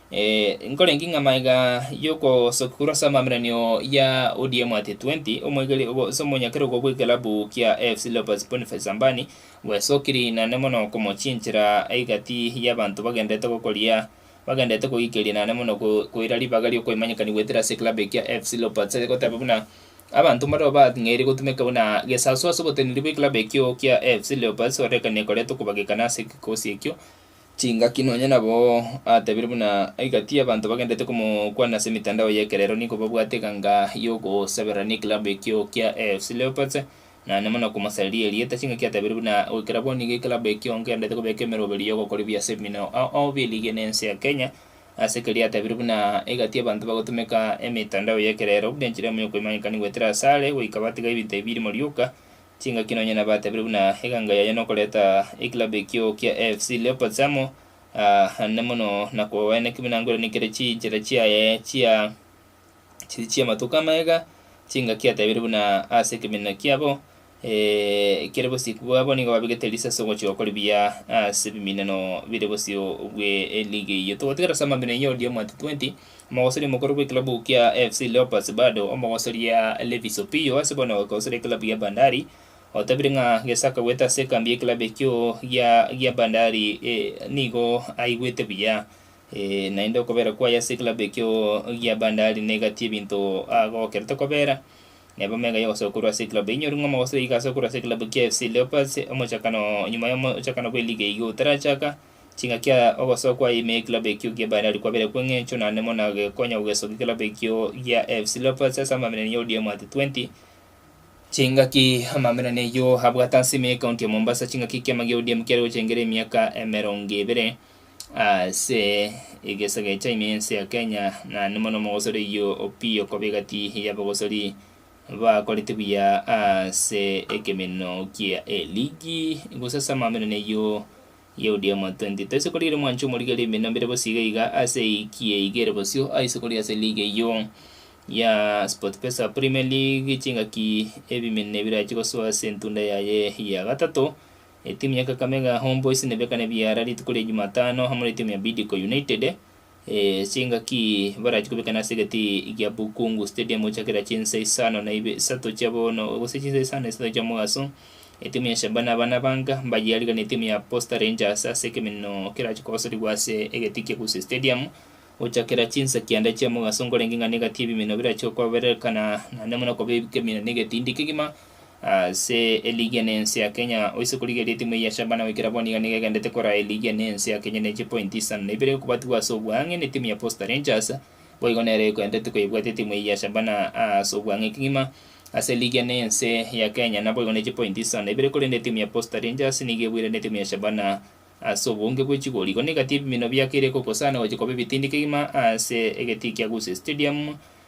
Eh, nkorenge ng'a maega y'ogosokurwa ase amaminanio ya ODM at 20, omwegeri obo ase omonyakerogo bw'ekelabu kia AFC Leopards Boniface Ambani bwesokiri inane mono komochinchera egati y'abanto bagenderete gokoria bagenderete koikeria inane mono ko- koira ribaga ri'okoimanyekani goetera ase ekilabu ekia AFC Leopards ase goteba buna abanto mbareo bang'eire gotumeka buna gesasu ase oboteneneri bw'ekilabu ekio kia AFC Leopards orekane koretwa kobagekana ase egekosi ekio chingaki nonya nabo atebire buna igati y'abanto bagenderete komokwana ase emetandao y'ekerero nigo babwate eganga y'ogosaberera n'ekilabu ekio kia AFC Leopards naende mono komosareria erieta chingaki atebire buna goikera bo nigo ekilabu ekio ngenderete kobeka emeroberi y'ogokora ebiya ase ebimina ao bi'eligi ene ense ya Kenya ase keria atebire buna igati y'abanto bagotumeka emetandao y'ekerero buna enchera emo y'okoimanyekania goetera asare goika batiga ebinto ebi birimo rioka Chingaki nonya nabatebirie buna eganga yaye nokoreta ekilabu ekio kia AFC Leopards amo ande mono na kobabaena ekeminangoirani kere chinchera chiaye chia chiri chi'amatuko amaiga. Chingaki atebirie buna ase ekeminana kiabo ekere bosiko bwabo nigo babegete erisi ase ogochia gokora ebiya ase ebiminano bire bosio bw'eligi eyio. Togotigera ase amabera eyio odiye omwate 20. Omogosori omokoro bw'ekilabu kia FC Leopards bado omogosoria Levis Opiyo ase bono ogogosoria ekilabu ya Bandari otabire ng'a gese akagwete ase ekambi y'ekilabu ekio gia gia Bandari nigo aigwete buya naende okobera kwaye ase ekilabu ekio gia Bandari negati ebinto agokerete kobera neba mega y'ogosoka korwa ase ekilabu inyori ng'a omogosori iga asoe korwa ase ekilabu kia FC Leopards omochakano nyuma y'omochakano bw'eligi eyio otarachaka. Chingaki aya ogosoa kwaye ime y'ekilabu ekio gia Bandari kwabere kw'eng'encho naende buna gekonya gogesokia ekilabu ekio gia AFC Leopards ase amaminani ya ODM at 20, Chingaki amaminani ayio abwate ase ime y'ekaunti ya Mombasa chingaki ekiama gia ODM kiare gochengera emiaka emerongo ebere ase egesaga echa ime y'ense ya Kenya naende buna omogosori oyio Opiyo koba egati y'abagosori bakorete buya ase ekeminino kia eligi gose ase amaminani ayio Yehudi emo 20 Toise korigia ere mwanche omorige rime na mbere bosio iga iga ase eki eiga ere bosio aise korigia ase league eyio ya Sportpesa Premier League chingaki ebimene birache gosoa ase entunda yaye ya gatato Etimu ya Kakamega Homeboyz nebekane biara rituko ria Jumatano amo na etimu ya Bidco United Chingaki barachie kobekana ase egati gia Bukungu Stadium gochia kera chinsa isano na ibe isato chia bono gose chinsa isano na isato chia omogaso. Etimu ya Shabana abana banga mbayearigana na etimu ya Posta Rangers ase ekeminino kerachie kogosorigwa ase egati kia Gusii Stadium gochia kera chinsa kianda chia omogaso nkorenge ng'a negati ebimino birachie koberekana naende buna koba ekeminino na egetiindi kegima ase eligi ene ense ya Kenya oise korigereria etimu eye ya Shabana goikera bono iga nigo egendete koraa eligi ene ense ya Kenya ne chipointi isano na ibere gokobatigwa ase oboang'e ne timu ya Posta Rangers boigo nero ekoendete koyebwate etimu eye ya Shabana ase oboang'e kegima ase eligi ene ense ya Kenya na boigo ne chipointi isano na ibere korende etimu ya Posta Rangers nigo ebuirane etimu ya Shabana ase obonge bwe chigori igo negati ebimino biakeire gokosana gochia koba ebitindi kegima ase egetii kia Gusii Stadium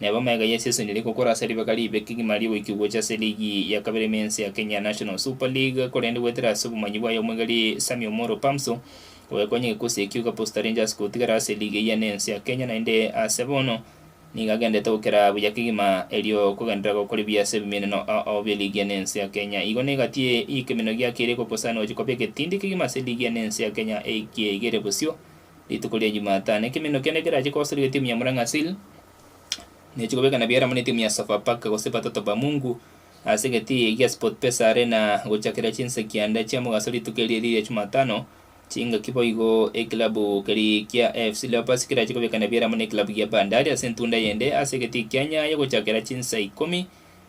Neba amagega ya seseni ere gokora ase ribaga ribe kegima ri'oboiki gocha ase ligi ya kabere y'Imensi ya Kenya National Super League korende goetera ase obomanyi bwaye omwegari Sammy Omoro Pamso ogakonya egekosi ekio iga Posta Rangers gotigara ase ligi eyia n'ense ya Kenya naende ase bono nigo agendete gokera buya kegima erio kogenderera gokore buya ase ebiminano ao bie ligi ene ense ya Kenya igo negatie ekemeno giake ere gokosana gochia koba egetindi kegima ase ligi ene ense ya Kenya ekiegere bosio rituko ria Jumatano, ekeminto kende kerache koosoriwa etimu ya Murang'a Seal nechi kobekana biaramo netimu ya Sofapaka gose Patoto ba Mungu ase egetii egia gia Sportpesa Arena gochakera chinsaki ande chia mogaso rituko erio erio ria Jumatano chingaki boigo. Ekilabu keria kia AFC Leopards kerache kobekana biaramo nekilabu gia Bandari ase entunda yende ase egetii kia Nyayo gochakera chinsa ikomi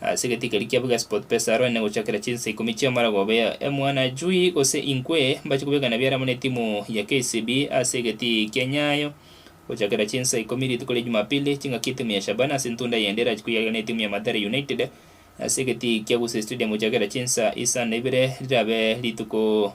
Ase egetii keria kiabo gia Sportpesa aroro negochakera chinsa ikomi chi'amarego obe mwana chui gose inkwe mbache kobekana biare amo netimu ya KCB ase egetii kia Nyayo gochakera chinsa ikomi rituko ria Jumapili chingaki etimu ya Shabana ase ntunda eyende erache koyarera netimu ya Mathare United ase egetii kia Gusii Stadium gochakera chinsa isa na ibere rirabe rituko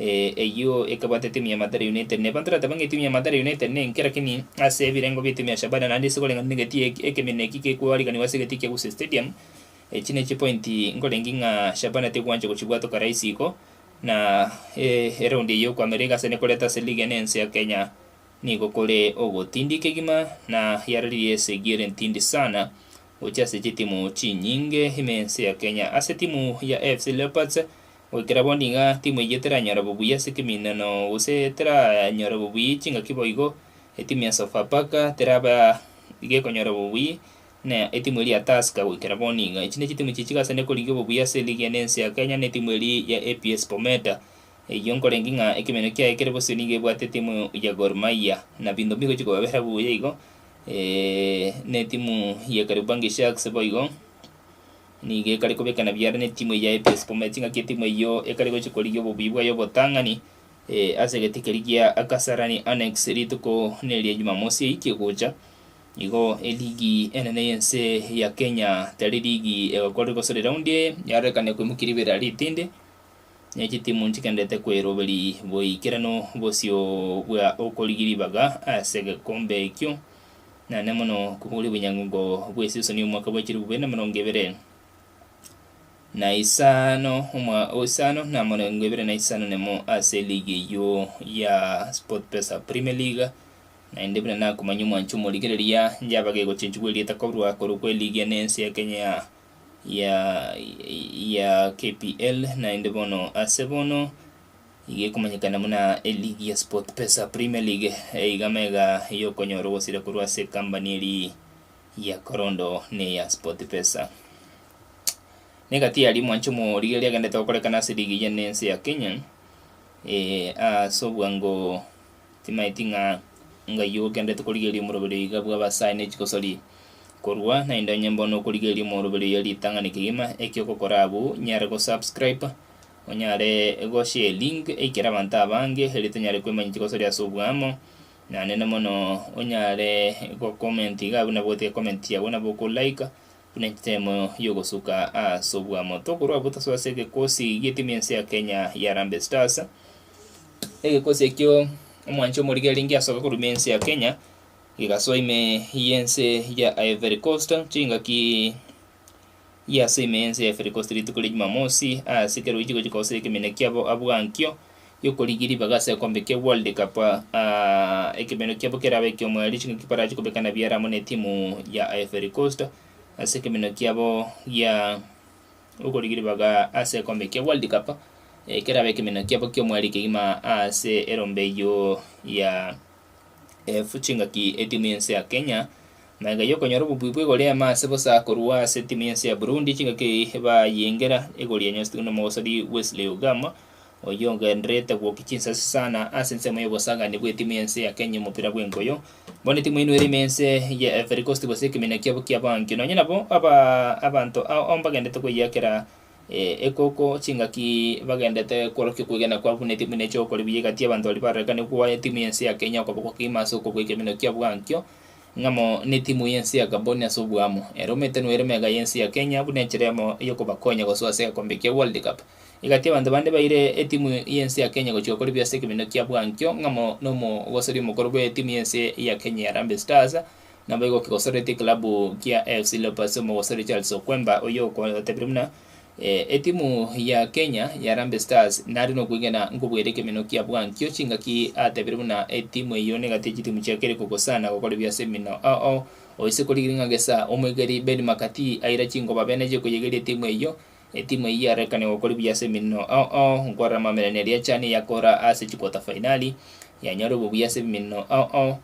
Ee, eyio ekebwate etimu ya Mathare United. Nebanto rateba ng'a etimu ya Mathare United nenkera lakini ase ebirengo bia etimu ya Shabana naende ase koreng'ana negetii eki ekeminto eki kekoariganigwa ase egetii kia Gusii Stadium, echi ne chipointi nkorengie ng'a Shabana tekwancha gochibwatoka rahisi iko na e eraundi eye yokoamerera iga ase nekoreta ase ligi ene ense ya Kenya nigo kore ogotindia kegima na yararirie esegire ntindi sana gochia ase chitimu chinyinge ime ense ya Kenya. Ase etimu ya AFC Leopards Goikera bono iga, timu eyio teranyora bobuya ase ekeminano gose teranyora bobuya chingaki boigo. Etimu ya Sofapaka teraba iga ekonyora bobuya, na etimu eria ya Tusker goikera bono iga. Echi ne chitimu chichige ase naende korigia obobuya ase eligi ene ense ya Kenya ne etimu eria ya APS Bometa. Eyio nkorengi ng'a ekeminano kiaye kere bosio nigo ebwate etimu ya Gor Mahia, na binto mbigochi kobabera buya igo, ne etimu ya Kariobangi Sharks boigo. Nigo ekare kobekana biaare netimu eye ya APS Bomet ngaki etimu eyio ekare gochia korigia obobuya bwayo obotang'ani ase egete keria gia Kasarani Annex rituko neria Jumamosi eyio kegocha. Igo eligi enene y'ense ya Kenya tari ligi egokorire gose reraundi eye yarorekane koimokia ribera ritindi ne chitimu nchigendererete koeroberia boikeranu bosio bwa okorigia ribaga ase egekombe ekio Naende mono kobua oria obonyango bw'esisoni omwaka bwa chilifu ibere na emerongo ebere na isano omwa isano na emerongo ebere na isano na emo ase eligi eyio ya Sportpesa Premier League, naende buna nakomanya omwancho omorigereria yaba gegochenchigwa erieta korwa korokwa eligi ene ya ense ya Kenya ya ya KPL naende bono ase bono. Iga ekomanyekana buna eligi ya Sportpesa Premier League eiga mega yokonyora ogosira korwa ase ekambani eri ya Korondo na eya Sportpesa. Na egati yaria mwancha omorigereria agendete gokorekana ase ligi eye ne ense ya Kenya eh, ase obwango timaeti ng'a ng'ai ogendete korigereria omoroberi oiga bwa abasae ne chigosori korwa naende onye bono okorigereria omoroberi oyo ritang'ani kegima, eki ogokora abwo nyare gosubscribe Onyare goshare elink eikere abanto abange erio tonyare koemanyia chigosoria ase oboamo, naende na mono onyare gocomment iga buna bwoti ecomment chiago nabo okolaika buna entemo ya ogosuka ase oboamo. Tokorwa abwo tosoe ase egekosi gi'etimu y'ense ya Kenya ya Harambee Stars, egekosi ekio omwancha omoriga erenge asoka korwa ime y'ense ya Kenya, gegasoa ime y'ense ya Ivory Coast chingaki. Iyia ase ime y'ense ya Efirikosti rituko ria Jumamosi, aase kera oiche gochika gose ekeminwe kiabo abua nkio gi'okorigia ribaga ase ekombe kia World Cup, ekeminwe kiabo kerabe eki'omoerio, chingaki barache kobekana biara amo n'etimu ya Efirikosti ase ekeminwe kiabo gia okorigia ribaga ase ekombe kia World Cup, kerabe ekeminwe kiabo ki'omoerio kegima aase erombe eyio ya. Efu chingaki etimu yense ya Kenya maiga yokonyora obobuya bw'igori ime ase bosa korwa ase etimu yense ya Burundi chingaki eye bayengera egori yanyosetwe nomogosori Wesley Ogama oyio ogendererete gwokia chinsasi sana ase ensemo y'obosagani bw'etimu yense ya Kenya y'omopira bw'enkoyo. Bono etimu eye noere ime ense ya Ivory Coast gose ekeminio kiabo ki'abaanki. Nonye nabo aba abanto ao ao mbagenderete koyakera Ee, ekoko, chingaki bagendete kworokia okwegena kwabo buna etimu ime echi'ogokora ebiya egati y'abanto baria bararekanirie kowa etimu y'ense ya Kenya okoboko okeima ase okobweka emenwa kia bwankio ng'amo n'etimu y'ense ya Gabon ase obwamo. Ere omete noire mega y'ense ya Kenya buna enchera yamo y'okobakonya gosoa ase egekombe kia World Cup. Egati y'abanto bande baire etimu y'ense ya Kenya gochia gokora ebiya ase ekemenwa kia bwankio ng'amo n'omogosori omokoro bw'etimu y'ense ya Kenya ya Harambee Stars, Naboigo okegosoretie ekilabu kia AFC Leopards omogosori Charles Okwemba oyio okotebirie buna etimu ya Kenya ya Harambee Stars nare nokwegena nkobwate ekemenwa kia bwankio chingaki atebirie buna etimu eyio negati ya chitimu chia kere kogosana gokora ebiya ase emino oo oise korigiria ng'a gesa omoigeri Ben McCarthy aira chinkoba bene chikoyegeria etimu eyio etimu eyio yarekane gokora ebiya ase emino oo nkorora amamerero neria chane yakora ase chikota fainali yanyora obobuya ase emino oo.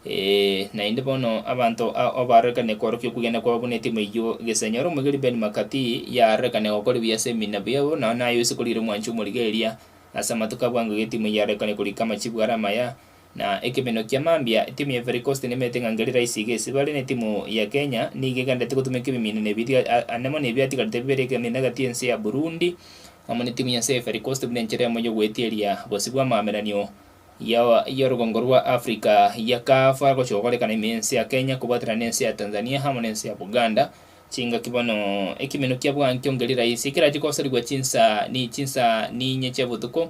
Ee, naende bono abanto ao abaarorekanie kworokia okwegena kwabo buna etima eyio, gesaini ore omoigeri Ben McCarthy yaarorekania gokora ebiya ase ebiina biabo, nao naye oise korigia ore omwanchi omorigereria. Ase amatuko abwo ango iga etima eyio yaarorekania korika amachibu are amaya, na ekemenyo kia mambia. Etimu ya Ivory Coast nemeete ng'a ngeri raisi iga esibare n'etimu ya Kenya, nigo egenderete gotumeka ebimiina na ebiria ane mono ebi biatigarete bibere ekeminana egati y'ense ya Burundi amo n'etimu y'ense ya Ivory Coast buna enchera yamo y'ogoetieria bosio bw'amaameranio ya y'orogongo rwa Africa ya CAF agochoka korekana ime ense ya Kenya kobwaterana nense ya Tanzania amo nense ya Buganda chingaki bono ekimeno kia bwankio ngeri raisi ekerache kosorigwa chinsa ni chinsa ninye chia botuko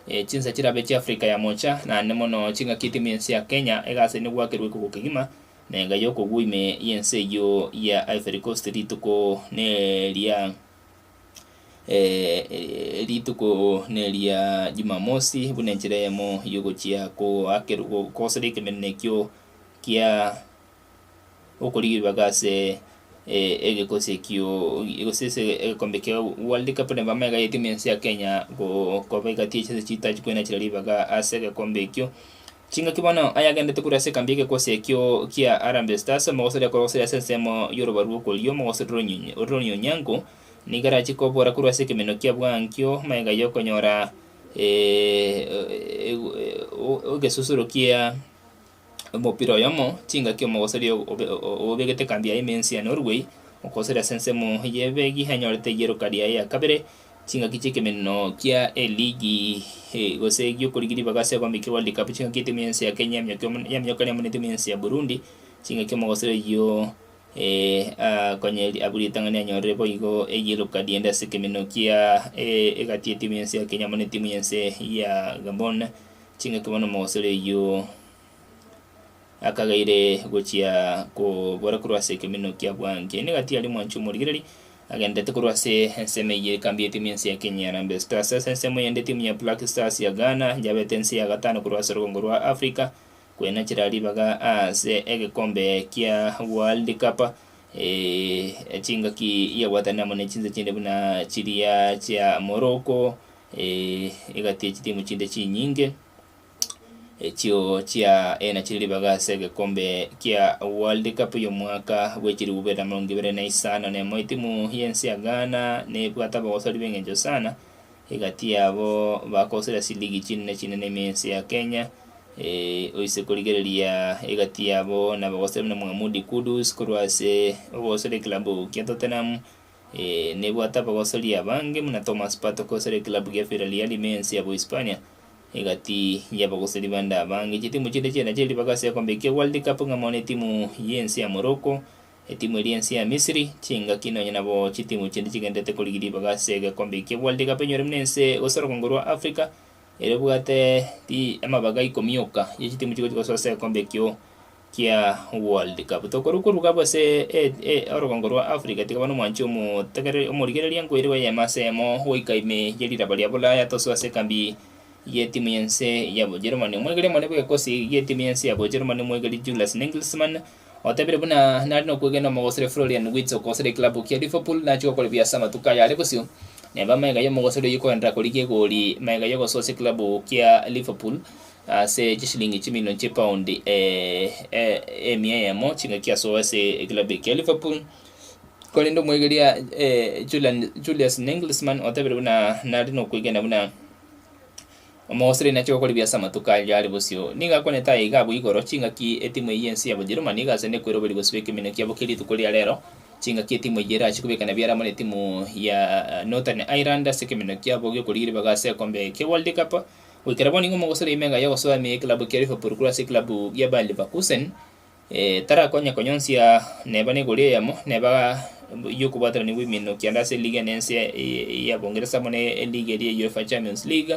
e chinsa chirabe chia Africa ya mocha naende mono chingaki etimu yense ya Kenya egasaini gwakerwa ekugo kegima na enga yokogwa ime yense eyio ya Ivory Coast rituko neria. rituko neria Jumamosi, buna enchera eyemo y'ogochia koakerw- go- kogosera ekemeneno ekio kia okorigia ebibaga ase e- egekosi ekio gose ase egekombe kia World Cup na bamanye iga etimu ense ya Kenya go- koba egati ya chinsa chitachi korwa nachirera ribaga ase egekombe ekio. Chingaki bono ayagendete korwa ase ekambi y'egekwasi ekio kia Harambee Stars, omogosoria korogosoria ase ensemo y'oroba rw'okorio, omogosoria oronyonyi, ore Onyango, nigo arachie kobora korwa ase ekemenwa kia bwankio magega y'okonyora egesusuro kia omopira oyomo, chingaki omogosoria obegete ekambi yaye Mensia Norway, okogosoria ase ensemo y'ebegi anyorete rieroka riaye ya kabere. Ching'aki chi'ekemeneno kia eligi gose gi'okorigia ribaga ase ekombe kia World Cup, ching'aki etimu y'ense ya Kenya ya mioka ere amo netimu y'ense ya Burundi, ching'aki omogosera oyio akonye abwo ritang'ani anyorire boigo eyellow card ende ase ekemeneno kia egati y'etimu y'ense ya Kenya amo netimu y'ense ya Gabon, ching'aki bono omogosera oyio. Akagaire gochia kobora korwa ase ekeminio kia Bwankie, nigo atiari omwanchi omorigereri, agendererete korwa ase ensemo eyio ekambi y'eteam y'ense ya Kenya ya Harambee Stars ase ensemo yende eteam ya Black Stars ya Ghana yabete ense ya gatano korwa ase orogongo rwa Africa koenachera ribaga ase egekombe kia World Cup eh, chingaki yabwatanire amo ne chinse chinde buna chiria chia Morocco, eh, egati echitimu chinde chinyinge. Echio chia ena chiri ribaga ase egekombe kia World Cup y'omwaka bwe chirube na emerongo ibere na isano na emo etimu y'ense ya Ghana nebwate abagosori b'engencho sana egati yabo bagosire ase ligi chinene chinene ime ense ya Kenya eh, oise korigereria egati yabo na abagosori buna Mohamudi Kudus korwa ase ogosora ekilabu kia Tottenham Ee, nebwate abagosoria abange buna Thomas Partey okogosoria ekilabu gia Villarreal ime y'ense ya Bohispania. Egati y'abagosori bande abange, chitimu chinde chiane chiri mpaka ase egekombe kia World Cup ng'a mono etimu y'ense ya Morocco, etimu eria y'ense ya Misiri, chingaki nonya nabo chitimu chinde chigendererete korigia ribaga ase egekombe kia World Cup enyore buna ense gose orogongo rwa Africa ere ebwate ri amabaga ikomi yoka ye chitimu chigochi gosoa ase egekombe ekio kia World Cup. Tokorwa koruga gose orogongo rwa Africa tiga bane omwanchi omotegereri omorigereria ngoire bw'eyemo ase emo goika ime ye riraba ria Bulaya tosu ase ekambi y'etimu y'ense ya Bojerumani. Omwegeri omonene bw'egekosi gi'etimu y'ense ya Bojerumani omwegeri Julius Nagelsmann otebirie buna nare nokwegena omogosori Florian Wirtz okogosera ekilabu kia Liverpool nachie gokora ebiya ase amatuko aya are bosio neba amaiga y'omogosori oyio koenderera korigia egori maiga y'ogososia ekilabu kia Liverpool Ase chisilingi chimilioni chipaundi emia eyemo chingaki asoe ase ekilabu ekia Liverpool, korende omwaigeria Julian-Julius Nagelsmann otebirie buna nare nokwegena buna Omoustralian achake gokora ebiya ase amatuko aria are bosio. Nigo akwanete aya iga abwo igoro, Chingaki etimu eyio y'ense ya Bojerumani igachande koiroberia gosiba ekeminio kiabo kie rituko ria rero, chingaki etimu eyio erache kobekana biara amo netimu ya Northern Ireland ase ekeminio kiabo gi'okorigia ribaga ase ekombe kia World Cup, Goikera bono nigo mogosera emenga y'ogosoa ime y'ekilabu kia Liverpool korwa ase ekilabu gia Bayer Leverkusen. Tarakonya konyonsia neba n'egori eyemo neba y'okobwatanania bw'ebiminto kianda ase eligi ene ense ya Boongeresa amo ne eligi eria ya UEFA Champions League,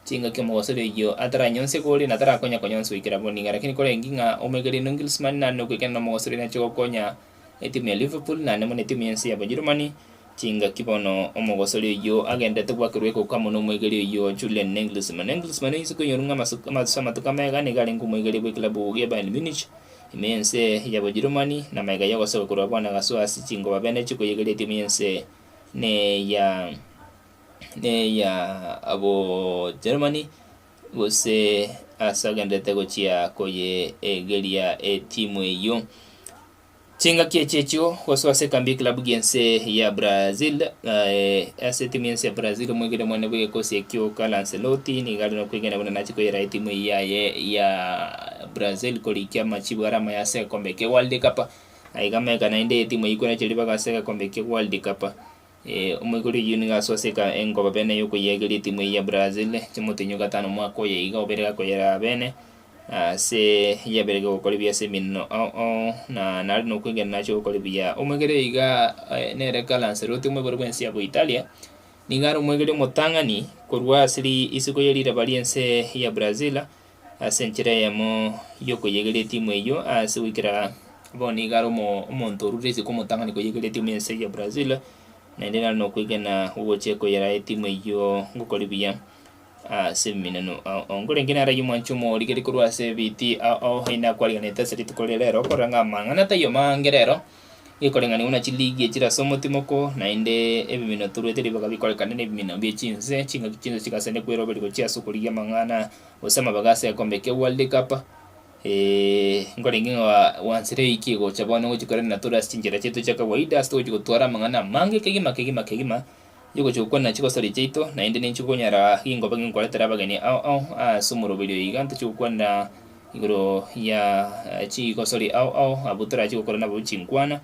chingaki omogosera oyio ataranyonsie gori na tarakonya konyonsia goikera bono nigo. Lakini korenge ng'a omaigereria Nungilsmann nare nogoikena nomogosera oyio nache gokonya. etimu ya Liverpool naende buna etimu y'ense ya Bojerumani chingaki bono, omogosori oyio agenderete gwakerwa egoko amo nomoigeria oyio Julian Nagelsmann. Nagelsmann oyinswe koinyorwa ng'a amasuka amatusu amatuko amaiga nigo arenge omoigeria bw'ekilabu gia Bayern Munich ime y'ense ya Bojerumani na amaiga y'ogosoka korwa bono agasoa ase chingoba bene chikoyegeria etimu y'ense neya neya Bojerumani gose ase agenderete gochia koyeegeria etimu eyio. Chingaki echi echio gosoa ase ekambi y'ekilabu gi'ense ya Brazil, eh, ase etimu y'ense ya Brazil omwegena omwene bw'egekosi ekio Carlo Ancelotti nigo are nokwegena buna nachia koyeraa etimu eyio yaye ya Brazil korikia amachibo are amaya ase egekombe kia World Cup. Aiga ameka naende etimu eyio ekwenerete ribaga ase egekombe kia World Cup. Ee, omoika rigiyo nigo asoa ase eka engoba bene y'okoyeegeria etimu eye ya Brazil chimotenyo gatano omwaka oye iga obere akoyeraa bene ase yabere gogokora ebiya ase eminno o o na nare nokwegena nache ogokora ebiya. Omoika rigiyo iga eh, nere Carlo Ancelotti omoibori bw'ense ya Boitalia nigo are omoika rigiyo omotang'ani korwa ase ri isiko ye riraba ri'ense ya Brazil Ase enchera eyemo y'okoyegeria etimu eyio ase goikera bono iga are omo- omonto orure isiko omotang'ani koyegeria etimu y'ense eyio ya Brazil, naende nare nokwegena gogochia koyeraa etimu eyio ngokore buya ase ebiminano. A- onga orenge naraiyie omwanchi omorigereria korwa ase ebiiti a- ao aye nakwarigeanete ase rituko riria rero, okorora ng'a amang'ana taiyo mange rero, gekorenganiwa buna chiligia chire ase omotimoko, naende ebimino toruete ribaga bikorekane na ebimino bie chinse, chingaki chinse chigasane koeroberia gochia ase okorigia amang'ana Gose amaboko ase egekombe kia World Cup, eeh nkorenge ng'a gwansire eike gocha bono gochia korenda na tore ase chinchera chiaito chia kawaida ase togochia gotwara amang'ana amange kegima kegima kegima, tochia gochia gokwana chigosoria chiaito naende ninchi okonyara ginkoba ebi nkoretera abageni ao ao ase omoroberio iga ntochia gokwana igoro ya chigosori ao ao abwo torachie gokora nabo chinkwana.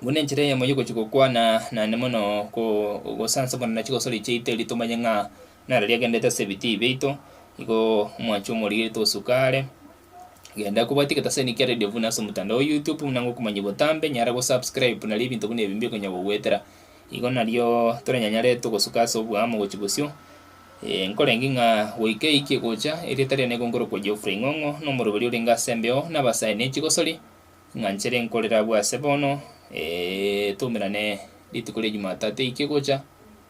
Buna enchera eyemo ya ogochia gokwana naende mono ko gosansa buna na chigosori chiaito erio tomanye ng'a. Naro riria agendete ase ebitii biaito, igo omwanchi omorigeretie gosuka are. Genda kwa bwati egetabu ase Nick Radio buna ase omotandao o YouTube buna ng'a okomanya botambe, nyara go subscribe nario ebinto buna ebi mbio bikonya gogoetera. Igo nario toranyanyare togosuka ase oboamo gochia bosio. Eh, nkorengi ng'a goika eike egocha, erieta riane nigo nkorokwa Geoffrey Ng'ong'o, na omoroberi orenge ase embeo na abasae ne chigosori, ng'a nchere nkorere abwo ase bono, eh, twaumerane rituko ria Jumatatu eike egocha,